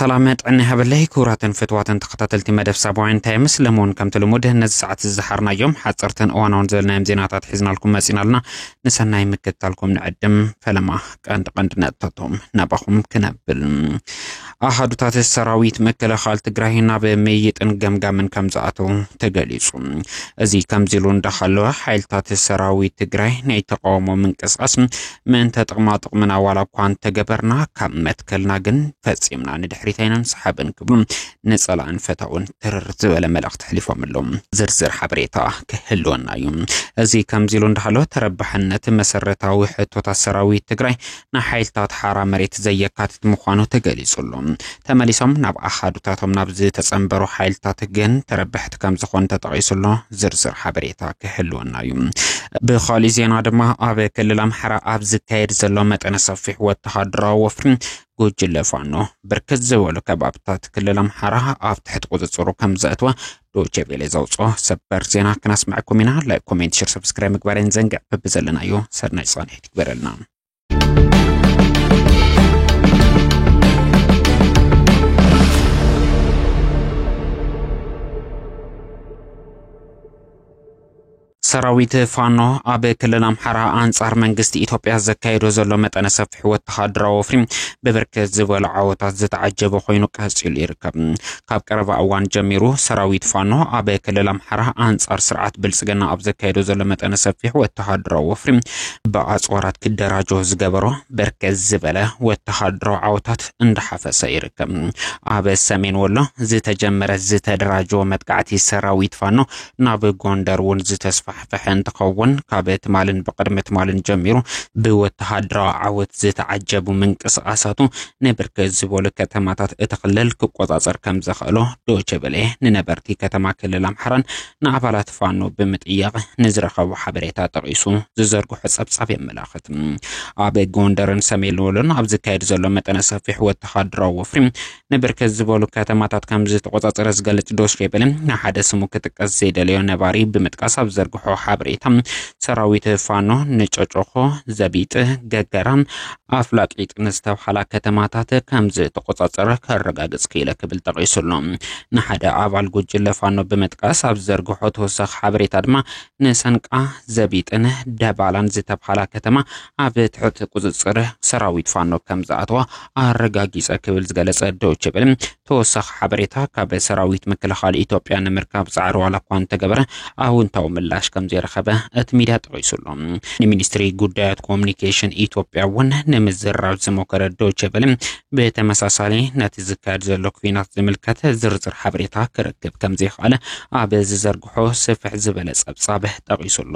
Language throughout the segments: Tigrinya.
ሰላም ጥዕና ይሃበለይ ክቡራትን ፍትዋትን ተኸታተልቲ መደብ ሳባውያን እንታይ ምስለ እውን ከምቲ ልሙድ ነዚ ሰዓት ዝዝሓርናዮም ሓፀርትን እዋናውን ዝበልናዮም ዜናታት ሒዝናልኩም መፂና ኣለና ንሰናይ ምክትታልኩም ንዕድም ፈለማ ቀንዲ ቀንዲ ነጥብታቶም ናባኹም ክነብል ኣሃዱታት ሰራዊት ምክልኻል ትግራይ ናብ ምይይጥን ገምጋምን ከም ዝኣተው ተገሊጹ። እዚ ከምዚ ኢሉ እንዳሃለወ ሓይልታት ሰራዊት ትግራይ ናይ ተቃውሞ ምንቅስቃስ ምእንተ ጥቕማ ጥቕምና ዋላ እኳ እንተገበርና ካብ መትከልና ግን ፈጺምና ንድሕሪት ኣይነንሰሓብን ክብሉ ንጸላእን ፈታውን ትርር ዝበለ መልእኽቲ ኣሕሊፎምሎም ዝርዝር ሓበሬታ ክህልወና እዩ። እዚ ከምዚ ኢሉ እንዳሃሎ ተረባሕነት መሰረታዊ ሕቶታት ሰራዊት ትግራይ ናይ ሓይልታት ሓራ መሬት ዘየካትት ምዃኑ ተገሊጹ ኣሎ። ተመሊሶም ናብ ኣሃዱታቶም ናብ ዝተጸንበሩ ሓይልታት ግን ተረባሕቲ ከም ዝኾኑ ተጠቒሱ ኣሎ። ዝርዝር ሓበሬታ ክህልወና እዩ። ብኻሊእ ዜና ድማ ኣብ ክልል ኣምሓራ ኣብ ዝካየድ ዘሎ መጠነ ሰፊሕ ወተሃደራዊ ወፍሪ ጉጅለ ፋኖ ብርክት ዝበሉ ከባብታት ክልል ኣምሓራ ኣብ ትሕቲ ቁፅፅሩ ከም ዘእትወ ዶቼ ቬለ ዘውፅኦ ሰበር ዜና ክነስምዐኩም ኢና። ላይክ፣ ኮሜንት፣ ሸር፣ ሰብስክራይብ ምግባሬን ዘንግዕ ብብዘለናዮ ሰናይ ፃንሒት ይግበረልና። ሰራዊት ፋኖ ኣብ ክልል ኣምሓራ ኣንጻር መንግስቲ ኢትዮጵያ ዘካየዶ ዘሎ መጠነ ሰፊሕ ወተሃደራዊ ወፍሪ ብብርክት ዝበሉ ዓወታት ዝተዓጀበ ኮይኑ ቀጺሉ ይርከብ። ካብ ቀረባ እዋን ጀሚሩ ሰራዊት ፋኖ ኣብ ክልል ኣምሓራ ኣንጻር ስርዓት ብልጽግና ኣብ ዘካየዶ ዘሎ መጠነ ሰፊሕ ወተሃደራዊ ወፍሪ ብኣጽዋራት ክደራጆ ዝገበሮ በርከት ዝበለ ወተሃደራዊ ዓወታት እንዳሓፈሰ ይርከብ። ኣብ ሰሜን ወሎ ዝተጀመረ ዝተደራጀወ መጥቃዕቲ ሰራዊት ፋኖ ናብ ጎንደር እውን ዝተስፋሕፈሐ እንትኸውን ካብ ትማልን ብቅድሚ ትማልን ጀሚሩ ብወተሃደራዊ ዓወት ዝተዓጀቡ ምንቅስቓሳቱ ንብርክት ዝበሉ ከተማታት እቲ ክልል ክቆፃፀር ከም ዘኽእሎ ዶቼ ቬለ ንነበርቲ ከተማ ክልል ኣምሓራን ንኣባላት ፋኖ ብምጥያቕ ንዝረኸቦ ሓበሬታ ጠቒሱ ዝዘርግሖ ፀብፃብ የመላኽት። ኣብ ጎንደርን ሰሜን ወሎን ኣብ ዝካየድ ዘሎ መጠነ ሰፊሕ ወተሃደራዊ ወፍሪ ንብርክት ዝበሉ ከተማታት ከም ዝተቆጻጸረ ዝገልጽ ዶች ቬለ ንሓደ ስሙ ክጥቀስ ዘይደለዮ ነባሪ ብምጥቃስ ኣብ ዘርግሖ ሓበሬታ ሰራዊት ፋኖ ንጨጮኾ፣ ዘቢጥ፣ ገገራ፣ ኣፍላቂጥ ንዝተብሃላ ከተማታት ከም ዝተቆጻጸረ ከረጋግጽ ክኢለ ክብል ጠቂሱ ኣሎ። ንሓደ ኣባል ጉጅለ ፋኖ ብምጥቃስ ኣብ ዘርግሖ ተወሳኺ ሓበሬታ ድማ ንሰንቃ፣ ዘቢጥን ደባላን ዝተብሃላ ከተማ ኣብ ትሕቲ ቁፅፅር ሰራዊት ፋኖ ከም ዝኣተዋ ኣረጋጊፀ ክብል ዝገለፀ ዶቼ ቬለ ተወሳኺ ሓበሬታ ካብ ሰራዊት ምክልኻል ኢትዮጵያ ንምርካብ ፃዕሪ ዋላ እኳ እንተገበረ ኣውንታዊ ምላሽ ከም ዘይረኸበ እቲ ሚዲያ ጠቒሱ ኣሎ። ንሚኒስትሪ ጉዳያት ኮሚኒኬሽን ኢትዮጵያ እውን ንምዝራብ ዝሞከረ ዶቼ ቬለ ብተመሳሳሊ ነቲ ዝካየድ ዘሎ ኩናት ዝምልከት ዝርዝር ሓበሬታ ክረክብ ከም ዘይከኣለ ኣብ ዝዘርግሖ ስፍሕ ዝበለ ጸብጻብ ጠቒሱ ኣሎ።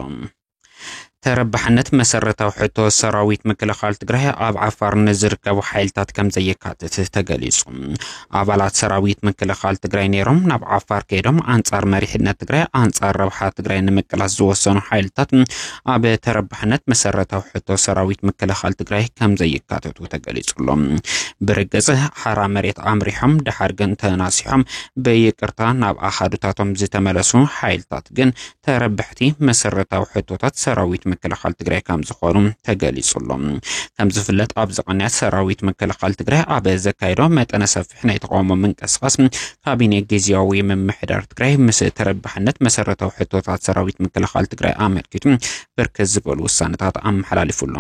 ተረባሕነት መሰረታዊ ሕቶ ሰራዊት ምክልኻል ትግራይ ኣብ ዓፋር ንዝርከቡ ሓይልታት ከም ዘየካትት ተገሊጹ። ኣባላት ሰራዊት ምክልኻል ትግራይ ነይሮም ናብ ዓፋር ከይዶም ኣንጻር መሪሕነት ትግራይ ኣንጻር ረብሓ ትግራይ ንምቅላስ ዝወሰኑ ሓይልታት ኣብ ተረባሕነት መሰረታዊ ሕቶ ሰራዊት ምክልኻል ትግራይ ከም ዘየካትቱ ተገሊጹሎም። ብርግጽ ሓራ መሬት ኣምሪሖም ድሓር ግን ተናሲሖም ብይቅርታ ናብ ኣኻዱታቶም ዝተመለሱ ሓይልታት ግን ተረባሕቲ መሰረታዊ ሕቶታት ሰራዊት ምክልኻል ትግራይ ከም ዝኾኑ ተገሊጹ ኣሎ። ከም ዝፍለጥ ኣብዚ ቅንያት ሰራዊት ምክልኻል ትግራይ ኣብ ዘካየዶ መጠነ ሰፊሕ ናይ ተቃውሞ ምንቅስቓስ ካቢኔ ግዝያዊ ምምሕዳር ትግራይ ምስ ተረባሕነት መሰረታዊ ሕቶታት ሰራዊት ምክልኻል ትግራይ ኣመልኪቱ ብርክት ዝበሉ ውሳነታት ኣመሓላሊፉ ኣሎ።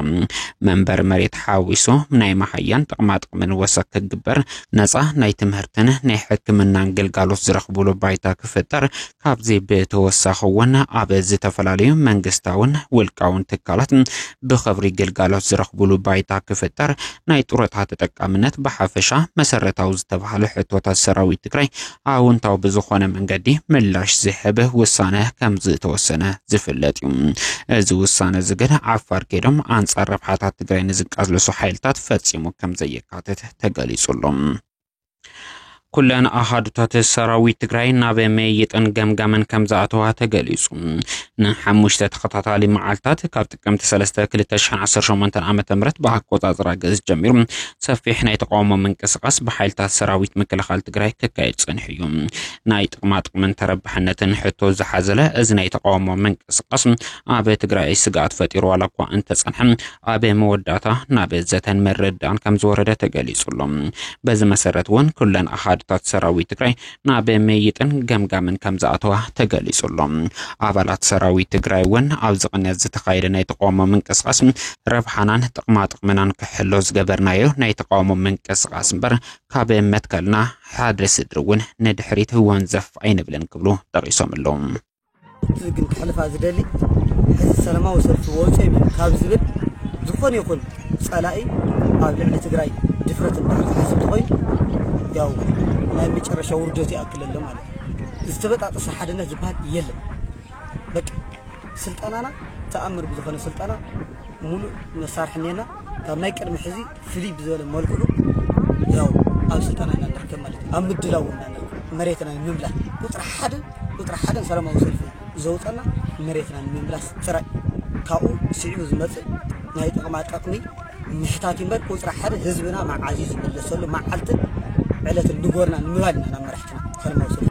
መንበሪ መሬት ሓዊሱ ናይ መሃያን ጥቕማጥቕምን ወሰኽ ክግበር፣ ነፃ ናይ ትምህርትን ናይ ሕክምናን ግልጋሎት ዝረኽብሉ ባይታ ክፍጠር፣ ካብዚ ብተወሳኺ እውን ኣብ ዝተፈላለዩ መንግስታውን ውልቃውን ትካላት ብኽብሪ ግልጋሎት ዝረኽቡሉ ባይታ ክፍጠር፣ ናይ ጡረታ ተጠቃምነት ብሓፈሻ መሰረታዊ ዝተብሃሉ ሕቶታት ሰራዊት ትግራይ ኣውንታዊ ብዝኾነ መንገዲ ምላሽ ዝህብ ውሳነ ከምዝተወሰነ ዝፍለጥ እዩ። እዚ ውሳነ እዚ ግን ዓፋር ከይዶም ኣንፃር ረብሓታት ትግራይ ንዝቃለሱ ሓይልታት ፈፂሙ ከምዘየካትት ተገሊፁ ኣሎ። ኩለን ኣሃዱታት ሰራዊት ትግራይ ናብ መይጥን ገምጋምን ከም ዝኣተዋ ተገሊጹ። ንሓሙሽተ ተኸታታሊ መዓልታት ካብ ጥቅምቲ 3 2018 ዓ ም ብኣቆጻጽራ ግእዝ ጀሚሩ ሰፊሕ ናይ ተቃውሞ ምንቅስቓስ ብሓይልታት ሰራዊት ምክልኻል ትግራይ ክካየድ ጸኒሑ እዩ። ናይ ጥቕማጥቕምን ተረባሕነትን ሕቶ ዝሓዘለ እዚ ናይ ተቃውሞ ምንቅስቓስ ኣብ ትግራይ ስግኣት ፈጢሩ ዋላ እኳ እንተጸንሐ ኣብ መወዳእታ ናብ ዘተን ምርድዳእን ከም ዝወረደ ተገሊጹ ኣሎ። በዚ መሰረት እውን ኩለን ኣሃዱታት ሰራዊት ትግራይ ናብ ምይይጥን ገምጋምን ከም ዝኣተዋ ተገሊጹ ኣሎ። ኣባላት ሰራዊት ትግራይ እውን ኣብዚ ቅንያት ዝተኻየደ ናይ ተቃውሞ ምንቅስቓስ ረብሓናን ጥቕማጥቕምናን ክሕሎ ዝገበርናዮ ናይ ተቃውሞ ምንቅስቓስ እምበር ካብ መትከልና ሓደ ስድሪ እውን ንድሕሪት ወንዘፍ ኣይንብልን ክብሉ ጠቒሶም ኣለዉ። እቲ ግን ክሕልፋ ዝደሊ ሕዚ ሰላማዊ ሰልፊ ወፅኦም እዩ ካብ ዝብል ዝኾነ ይኹን ፀላኢ ኣብ ልዕሊ ትግራይ ድፍረት እንድሕር ዝሓዝ እንተኾይኑ ያው ናይ መጨረሻ ውርደቱ ይኣክል ኣሎ ማለት እዩ። ዝተበጣጠሰ ሓድነት ዝበሃል የለን። በቃ ስልጠናና ተኣምር ብዝኾነ ስልጠና ሙሉእ መሳርሒ እኒአና ካብ ናይ ቅድሚ ሕዚ ፍልይ ብዝበለ መልክዑ ያው ኣብ ስልጠና ኢና ንርከብ ማለት እዩ ኣብ ምድላው ኢና ንርከብ መሬትና ንምምላስ ቁፅሪ ሓደ ቁፅሪ ሓደን ሰላማዊ ሰልፊ ዘውፀና መሬትና ንምምላስ ጥራይ ካብኡ ስዒቡ ዝመፅእ ናይ ጥቕማ ጥቕሚ ምሕታት እምበር ቁፅሪ ሓደ ህዝብና መዓዝ እዩ ዝምለሰሉ መዓልትን ዕለትን ንጎርና ንምባል ኢና ናብ መራሕትና ሰላማዊ ሰልፊ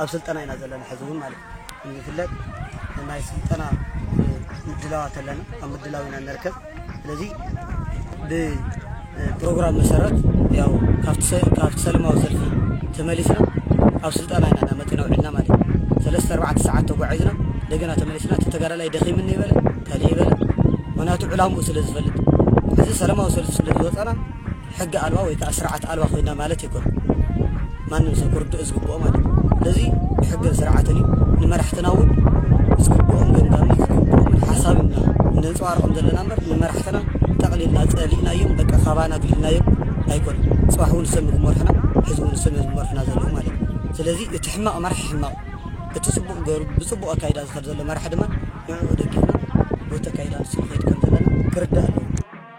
ኣብ ስልጠና ኢና ዘለና ሕዚ እውን ማለት እዩ ከምዝፍለጥ ናይ ስልጠና ምድላዋት ኣለና ኣብ ምድላው ኢና ንርከብ ስለዚ ብፕሮግራም መሰረት ያው ካብቲ ሰለማዊ ሰልፊ ተመሊስና ኣብ ስልጠና ኢና ናመፅና ውዒልና ማለት እዩ ሰለስተ ኣርባዕተ ሰዓት ተጓዒዝና እንደገና ተመሊስና እቲ ተጋዳላይ ደኺምኒ ይበለ ካልእ ይበለ ምክንያቱ ዕላምኡ ስለ ዝፈልጥ እዚ ሰለማዊ ሰልፊ ስለ ዝወፀና ሕጊ ኣልባ ወይ ከኣ ስርዓት ኣልባ ኮይና ማለት ኣይኮነን ማንም ሰብ ክርድኦ ዝግብኦ ማለት እዩ ስለዚ ብሕግን ስርዓትን እዩ ንመራሕትና እውን ዝግብኦም ገምጋምን ዝግብኦምን ሓሳብ ኢና እነንጸባርቆም ዘለና እምበር ንመራሕትና ጠቕሊልና ጸሊእናዮም በቃ ካባና ኣግሊልናዮም ኣይኮነን ጽባሕ እውን እሶም ክመርሑና ሕዚ እውን እሶም እዮም ዝመርሑና ዘለዉ ማለት እዩ ስለዚ እቲ ሕማቕ መራሒ ሕማቕ እቲ ጽቡቕ ገሩ ብጽቡቕ ኣካይዳ ዝኸድ ዘሎ መራሒ ድማ ንዕኡ ደጊፍና ቦቲ ኣካይዳ ንሱ ንኸይድ ከም ዘለና ክርዳእ ኣለዎ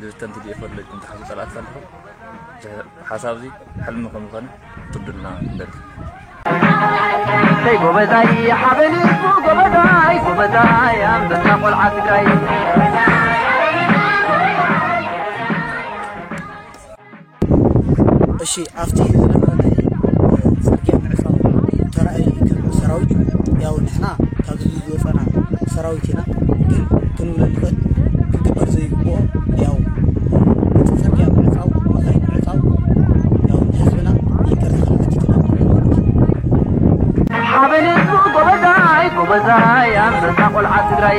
ብተን ትዲኤፍ ወለድኩም ትሓዙ ፀላእቲ ከለኹም ሓሳብ እዚ ሕልሚ ከም ዝኾነ ክትርድኡልና ንደሊ ሰይ ጎበዛይ ሓበኒ ጎበዛይ ጎበዛይ ኣንበሳ ቆልዓ ትግራይ እሺ ኣብቲ ዝነበረ ናይ ፅርግያ ምዕፃው ተራእየ ከም ሰራዊት ያው ንሕና ካብ ህዝቢ ዝወፀና ሰራዊት ኢና ግን ክንብሎ ንኽእል ክግበር ዘይግብኦ ያው እቲ ፅርግያ ምዕፃው መኻይን ምዕፃው ያው ንህዝብና ይቅርታ ክንሓትት ኢና ማለት እዩ። ሓበኔቱ ጎበዛይ ጎበዛይ ኣንበሳ ቆልዓ ትግራይ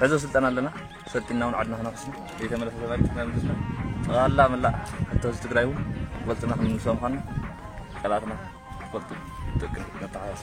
ሕዞ ስልጠና ኣለና ሰልጢና እውን ዓድና ክነክስና ዘይተመለሰ ተመሪፅ ክነምልስና ጠቕላላ መላእ ሕቶ ህዝቢ ትግራይ እውን ፈልጥና ክንምልሶ ምዃንና ቀላትና ክፈልጡ ደቂ ነተሓሳስ